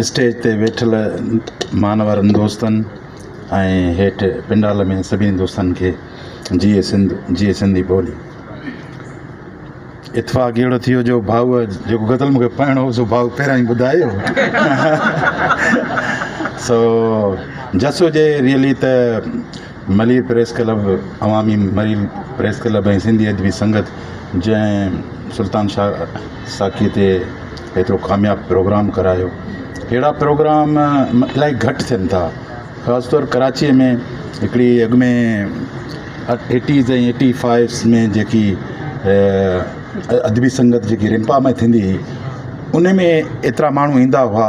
stage تي ويٺل مانورن دوستن ۽ هيٺ پنڊال ۾ سڀني دوستن کي جيئي سنڌ جيئي سنڌي ٻولي اتفاق اهڙو ٿي ويو جو ڀائوء جيڪو غزل مون کي پڙهڻو هو سو ڀائو پهريان ئي ٻڌايو سو جسو جي ريئلي ته ملير پريس ڪلب، عوامي ملير پريس ڪلب ۽ سنڌي ادبي سنگت جنهن سلطان شاهه ساقيء تي ايترو ڪامياب پروگرام ڪرايو اهڙا پروگرام الاهي گهٽ ٿين ٿا خاص طور ڪراچيء ۾ هڪڙي اڳ ۾ ايٽيز ۽ ايٽي فائيوز ۾ جيڪي ادبي سنگت جيڪي رمپا ۾ ٿيندي هئي ان ۾ ايترا ماڻهو ايندا هئا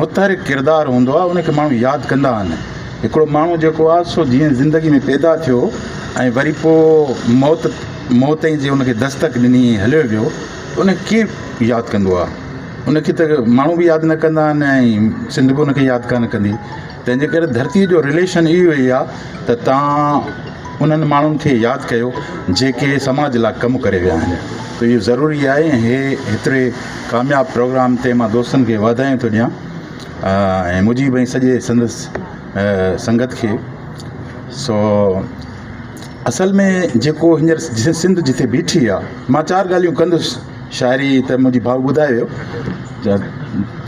متحرڪ ڪردار هوندو آهي ان کي ماڻهو ياد ڪندا آهن هڪڙو ماڻهو جيڪو آهي سو جيئن زندگي ۾ پيدا ٿيو ۽ وري پوء موت موت ۽ جي ان کي دستڪ ڏني ۽ هليو ويو ته ان کي ڪير ياد ڪندو آهي ان کي ته ماڻهو به ياد نه ڪندا آهن ۽ سنڌ به ان کي ياد ڪانه ڪندي تنهنجي ڪري ڌرتي جو رليشن اهو ئي آ ته توهان انهن ماڻهن کي ياد ڪيو جيڪي سماج لا ڪم ڪري ويا آهن ته اهو ضروري آهي ۽ هي هيتري ڪامياب پروگرام تي مان دوستن کي واڌايون ٿو ڏيان ۽ مجيب ۽ سڄي سندس سنگت کي سو اصل ۾ جيڪو هينئر سنڌ جتي بيٺي آ مان چار ڳالهيون ڪندس شاعري ته منهنجي ڀاء ٻڌائي ويو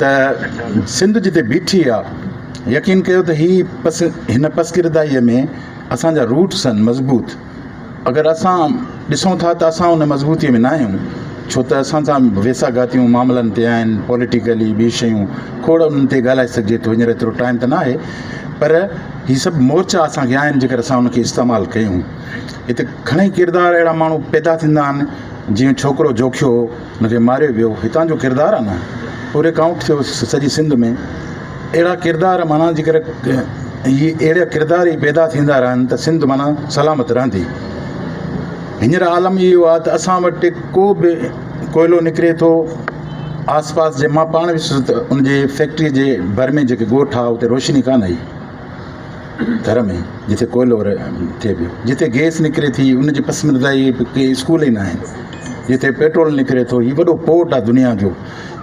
ته سنڌ جتي بيٺي آ يقين ڪيو ته هي پس هن پسگردائيء ۾ اسان جا روٽ سن مضبوط اگر اسان ڏسون ٿا ته اسان ان مضبوطيء ۾ ناهيون ڇو ته اسان سان ويساگهاتيون معاملن تي آهن پوليٽيڪلي ٻي شيون کوڙ انهن تي ڳالهائي سگهجي ٿو هينئر ايترو ٽائيم ته ناهي پر هي سڀ مورچا اسان کي آهن جيڪر اسان ان کي استعمال ڪيون هتي گهڻي ڪردار اهڙا ماڻهو پيدا ٿيندا آهن جنهن ڇوڪرو جوکيو هو ان کي ماريو ويو هتان جو ڪردار آهي نه پوري ڪائونٽ ٿيو سڄي سنڌ ۾ اهڙا ڪردار معنيٰ جي ڪري اهي اهڙا ڪردار ئي پيدا ٿيندا رهن ته سنڌ معنيٰ سلامت رهندي هينئر عالم اهو آهي ته اسان وٽ ڪو به ڪوئلو نڪري ٿو آس پاس جي مان پاڻ ويس ان جي فيڪٽري جي ڀر ۾ جيڪي ڳوٺ آهي اتي روشني ڪانه آهي ٿر ۾ جتي ڪوئلو ٿئي پيو، جتي گئس نڪري ٿي ان جي پسمردائي کي اسڪول ئي ناهن، جتي پيٽرول نڪري ٿو هي وڏو پورٽ آهي دنيا جو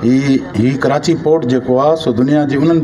هي هي ڪراچي پورٽ جيڪو آهي سو دنيا جي انهن